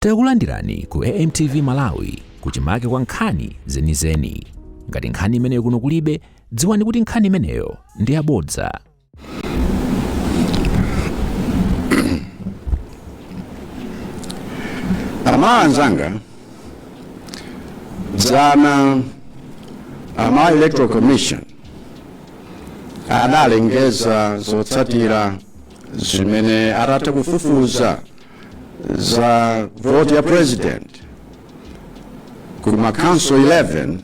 Takulandirani ku AMTV Malawi kuchimake kwa nkhani zenizeni. Ngati nkhani imeneyo kuno kulibe, dziwani kuti nkhani imeneyo ndi yabodza. aMalawi anzanga dzana a Malawi electoral commission adalengeza zotsatira zimene atatha kufufuza za voti ya president ku makhonsolo 11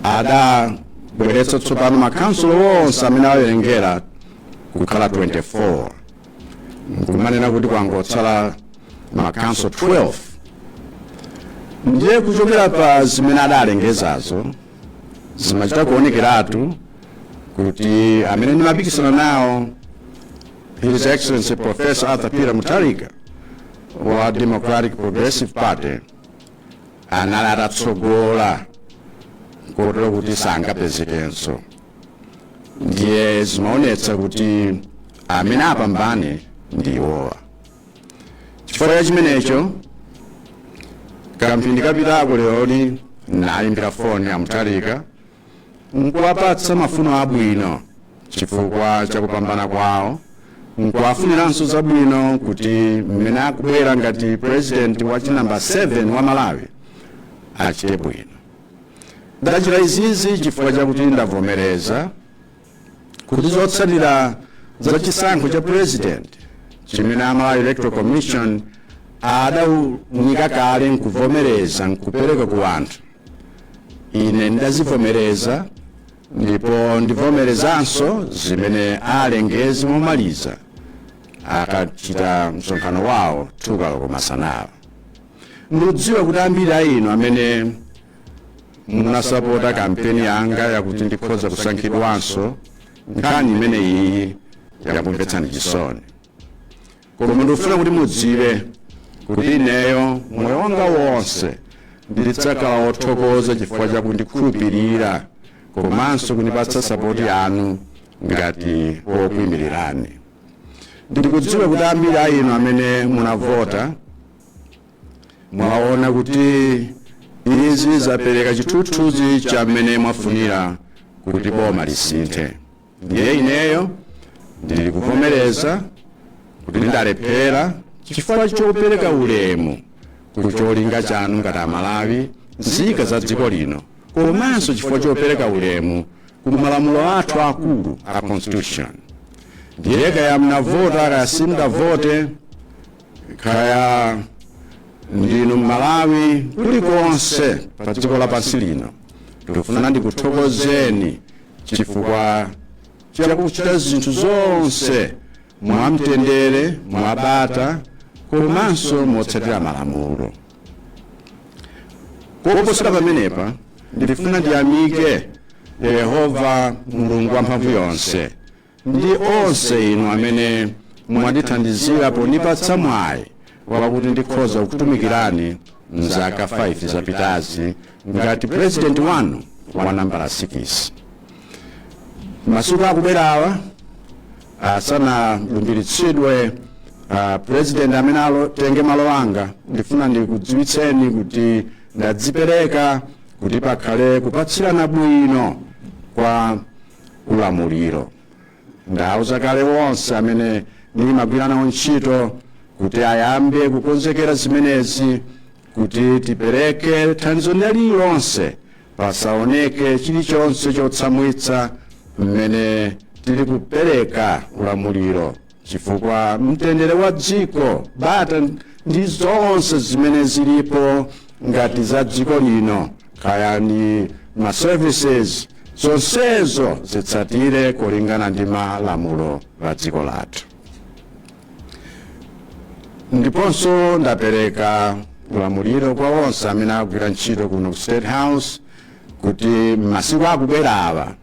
adabweretsa tsopano makhonsolo onse amene awawerengera kukhala 24 nkumanena kuti kwangotsala makhonsolo 12 ndiye kuchokera pa zimene adalengezazo zimachita kuonekeratu kuti amene ndimapikisana nawo His Excellency Professor Arthur Peter Mutharika wa Democratic Progressive Party anali atatsogola kotero kuti sangapezekenso ndiye zimaonetsa kuti amene apambane ndi iwowa chifukwa cha chimenecho kamphindi kapitako leroli naimbira foni a Mutharika nkuwapatsa mafuno abwino chifukwa cha kupambana kwawo nkuwafuniranso zabwino kuti mmene akubwera ngati president wa chinamba 7 wa malawi achite bwino ndachita izizi chifukwa chakuti ndavomereza kuti zotsatira za chisankho cha president chimene amalawi electoral commission adaunika kale nkuvomereza nkupereka ku anthu ine ndidazivomereza ndipo ndivomerezanso zimene alengeze momaliza akachita msonkhano wawo 2 koloko masanawa Ndikudziwa kuti ambiri a inu amene munasapota kampeni yanga yakuti ndikhoza kusankhidwanso nkhani imene iyi yakumvetsani chisoni koma ndikufuna kuti mudziwe kuti ineyo moyo wanga wonse ndidzakhala wothokoza chifukwa chakundikhulupirira komanso kundipatsa sapoti yanu ngati wokuimirirani ndikudziwa kuti ambiri a inu amene munavota mwaona kuti izi zapereka chithunzithunzi cha mmene mwafunira kuti boma lisinthe ndiye ineyo ndili kuvomereza kuti ndalephera chifukwa chopereka ulemu ku cholinga chanu ngati amalawi nzika za dziko lino komanso chifukwa chopereka ulemu ku malamulo athu akulu a constitution ndiye kaya mnavota kaya simunavote kaya ndinu mmalawi kulikonse pa dziko lapansi lino ndikufuna ndikuthokozeni chifukwa chakuchita zinthu zonse mwamtendere mwabata komanso motsatira malamulo koposera pamenepa ndifuna ndiyamike yehova mulungu wamphamvu yonse ndi onse inu amene mwandithandizira pondipatsa mwayi wakuti ndikhoza kutumikirani mzaka 5 zapitazi ngati president wanu wa nambala 6 masiku akubwerawa asanalumbiritsidwe uh, president amene atenge malo anga ndifuna ndikudziwitseni kuti ndadzipereka kuti pakhale kupatsirana bwino kwa ulamuliro. Ndauza kale onse amene ndimagwira nawo ntchito kuti ayambe kukonzekera zimenezi kuti tipereke thandizo lililonse pasaoneke chilichonse chotsamwitsa mmene tili kupereka ulamuliro. chifukwa mtendere wa dziko bata ndi zonse zimene zilipo ngati za dziko lino kaya ndi ma services zonsezo zitsatire kulingana ndi malamulo a dziko lathu ndiponso ndapereka ulamuliro kwa onse amene agwira ntchito kuno ku state house kuti masiku akubwerawa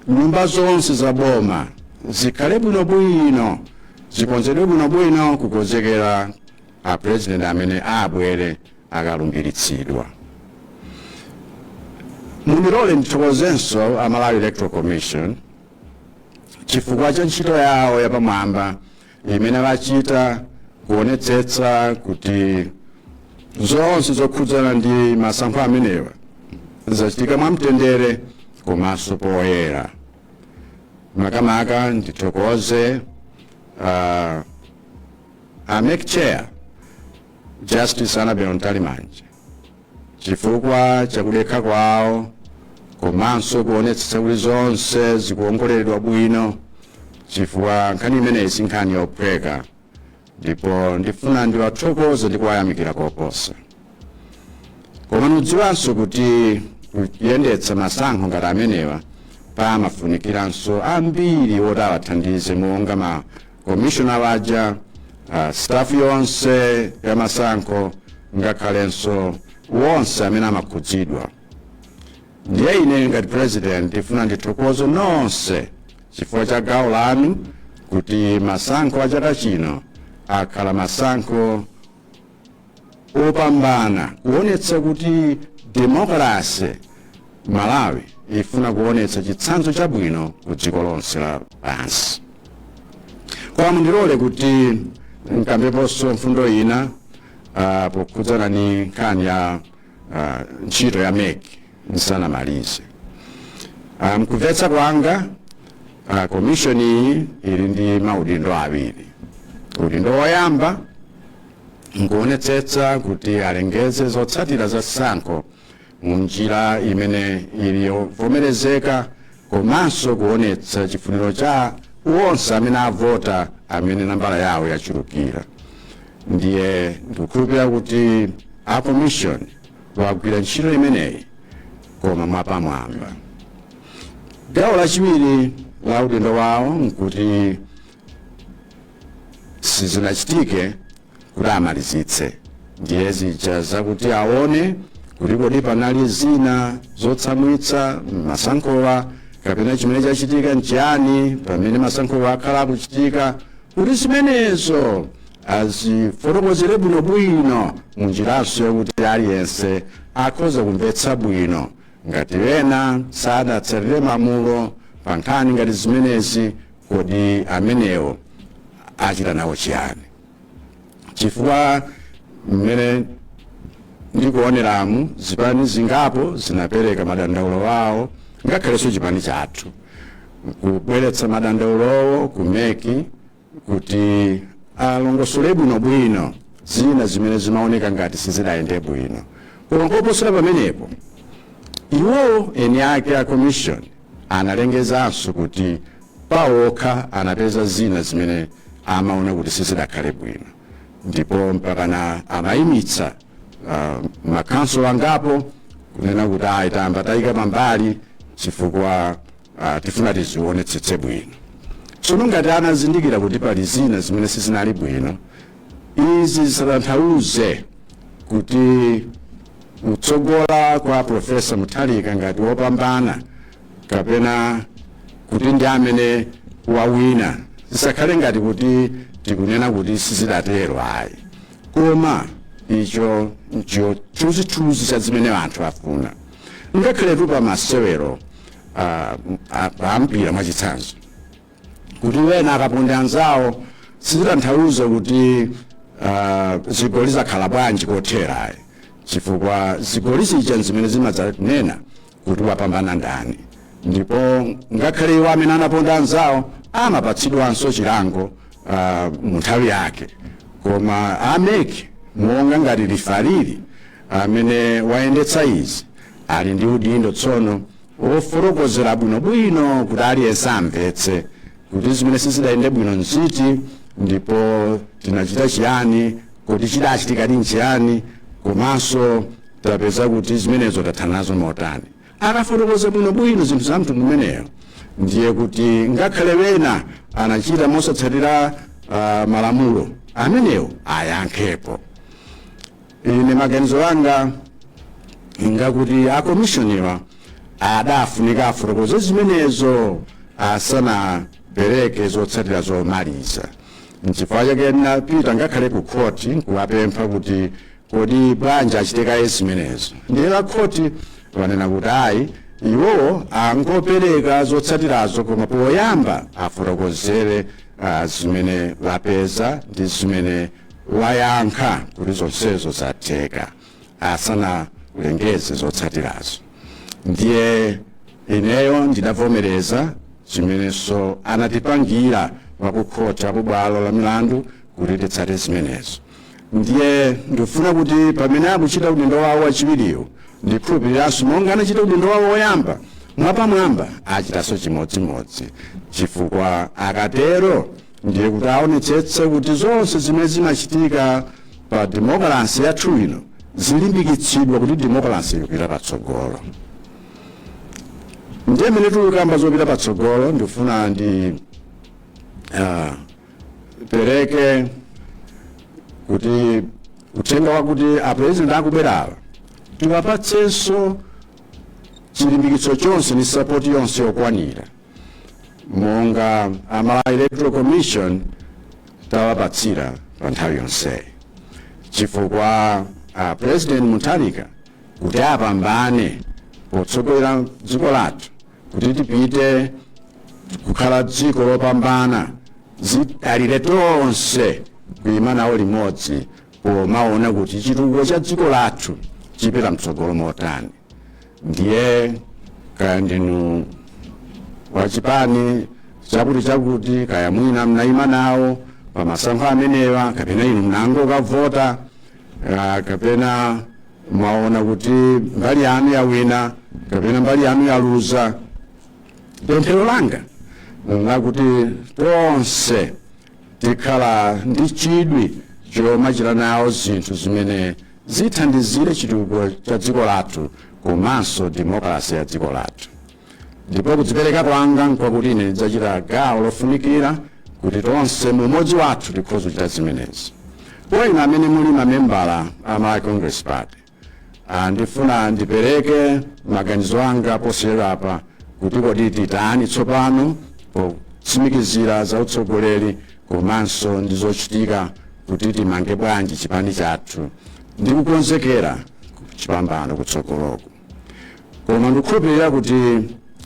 nyumba zonse za boma zikhale bwinobwino zikonzedwe bwinobwino kukonzekera a president amene abwere akalumbiritsidwa mundilole ndithokozenso a malawi electoral commission chifukwa cha ntchito yawo yapamwamba imene achita kuonetsetsa kuti zonse zokhudzana ndi masankho amenewa zachitika mwamtendere komanso poyera makamaka ndithokoze uh, a mec chair justice annabel mtalimanja chifukwa cha kudekha kwawo komanso kuonetsetsa kuti zonse zikuongoleredwa bwino chifukwa nkhani imeneyi si nkhani yophweka ndipo ndifuna ndiwathokoze ndi kuwayamikira koposa koma mudziwanso kuti kuyendetsa masankho ngati amenewa pamafunikiranso ambiri oti awathandize monga ma komishonala waja uh, staff yonse ya masankho ngakhalenso wonse amene amakhudzidwa ndiye ine ngati president ndifuna ndithokoze nonse chifukwa cha gawo lanu kuti masankho a chaka chino akhala masankho opambana kuonetsa kuti demokalase malawi ifuna kuonetsa chitsanzo chabwino ku dziko lonse la pansi koma mundilole kuti nkambeponso mfundo ina uh, pokhudzana ni nkhani ya uh, ntchito ya mec nsanamalize uh, mkumvetsa kwanga uh, komishoni iyi ili ndi maudindo awiri udindo woyamba nkuonetsetsa kuti alengeze zotsatira za sankho mu njira imene ili yovomerezeka komanso kuonetsa chifuniro cha onse amene avota amene nambala yawo yachulukira ndiye ndikukhulupira kuti a commission wagwira ntchito imeneyi koma mwapamwamba gawo lachiwiri la udindo wawo nkuti sizinachitike kuti amalizitse ndiye zija zakuti aone kuti kodi panali zina zotsamwitsa mmasankhowa kapena chimene chachitika nchiyani pamene masankhowa akhala akuchitika kuti zimenezo azifotokozere bwinobwino munjiranso yakuti aliyense akhoza kumvetsa bwino ngati ena sadatsatire malamulo pa nkhani ngati zimenezi Kodi amenewo achita nawo chiyani? Chifukwa mmene ndikuoneramu, zipani zingapo zinapereka madandaulo awo, ngakhalenso chipani chathu, kubweretsa madandaulowo ku mec kuti alongosole bwinobwino zina zimene zimaoneka ngati sizidayende bwino. Koma koposera pamenepo, iwowo eni ake a commission Analengezanso kuti pawokha anapeza zina zimene amaona kuti sizidakhale bwino ndipo mpakana amayimitsa uh, makhanso angapo kunena kuti ayi tayamba tayika pambali chifukwa uh, tifuna tiziwonetsetse bwino tsono ngati anazindikira kuti pali zina zimene sizinali bwino izi zisatanthauze kuti kutsogola kwa Professor Mutharika ngati wopambana kapena kuti ndi amene wawina zisakhale ngati kuti tikunena kuti sizidatero ayi koma icho ncho chithunzithunzi cha zimene anthu afuna ngakhaletu pa masewero ah, ah, a mpira mwachitsanzo kuti wena akaponda anzawo sizitanthauza kuti ah, zigoli zakhala bwanji kothera ayi chifukwa zigoli zija zimene zimadzanena kuti wapambana ndani ndipo ngakhale iwo amene anaponda anzawo amapatsidwanso chilango ah, mu nthawi yake koma a MEC monga ngati lifalili amene wayendetsa izi ali ndi udindo tsono wofotokozera bwinobwino kuti aliyense amvetse kuti zimene sizidayende bwino nziti ndipo tinachita chiyani kodi chidachitikadi nchiyani komanso tapeza kuti zimenezo tathana nazo motani akafotokoza bwinobwino zinthu za mtundu umeneyo ndiye kuti ngakhale wena anachita mosatsatira ah, malamulo amenewo ayankhepo ine maganizo anga ngakuti akomishoniwa adafunika afotokoze zimenezo asanapereke zotsatira zomaliza nchifukwa chake ndinapita ngakhale ku khoti nkuwapempha kuti kodi bwanji achite kaye zimenezo ndiye a khoti wanena kuti ayi iwowo angopereka zotsatirazo koma poyamba afotokozere ah, zimene wapeza ndi zimene wayankha kuti zonsezo zatheka asanalengeze zotsatirazo ndiye ineyo ndidavomereza zimenenso anatipangira akukhoti kubwalo la milandu kuti titsate zimenezo ndiye ndifuna kuti pamene akuchita udindo wawo wachiwiriwo ndikhulupiriranso monga anachita udindo wawo woyamba mwapamwamba achitanso chimodzimodzi chifukwa akatero ndiye kuti aonetsetse kuti zonse zimene zimachitika pa demokalasi yathu ino zilimbikitsidwa kuti demokalasi ikupita patsogolo ndiye mmene tikukamba zopita patsogolo ndifuna ndi ah, pereke kuti uthenga wakuti apurezidenti akubwerawa tiwapatsenso chilimbikitso chonse ndi sapoti yonse yokwanira monga a Malawi Electoral Commission tawapatsira pa nthawi yonseyi chifukwa a President Mutharika kuti apambane potsogolera dziko lathu kuti tipite kukhala dziko lopambana zidalira tonse kuima nawo limodzi pomaona kuti chitukuko cha dziko lathu chipita mtsogolo motani ndiye kaya ndinu wa chipani chakuti chakuti kaya mwina mnayima nawo pa masankho amenewa kapena inu mnangokavota ah, kapena mwaona kuti mbali yanu yawina kapena mbali yanu yaluza pemphero langa lakuti tonse tikhale ndi chidwi chomachita nawo zinthu zimene zithandizire chitukuko cha dziko lathu komanso demokalase ya dziko lathu ndipo kudzipereka kwanga nkwakuti ine ndidzachita gawo lofunikira kuti tonse mu umodzi wathu tikhoza kuchita zimenezi kwa inu amene muli mamembala a malawi congress party Ah, ndifuna ndipereke maganizo anga posachedwapa kuti kodi titani tsopano potsimikizira za utsogoleri komanso ndi zochitika kuti timange bwanji chipani chathu ndi kukonzekera chipambano kutsogoloku koma ndikukhulupirira kuti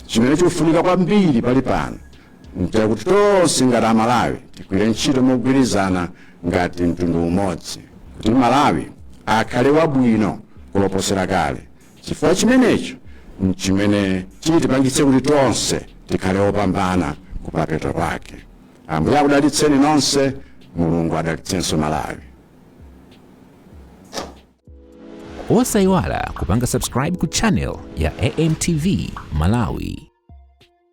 chimene chikufunika kwambiri pali pano nchakuti tonse ngati amalawi tigwire ntchito mogwirizana ngati mtundu umodzi kuti malawi akhale wabwino kuposera kale chifukwa chimenecho nchimene chitipangitse kuti tonse tikhale opambana kumapeto kwake Ambuye akudalitseni nonse, Mulungu adalitsenso Malawi. Osaiwala kupanga subscribe ku channel ya AMTV Malawi.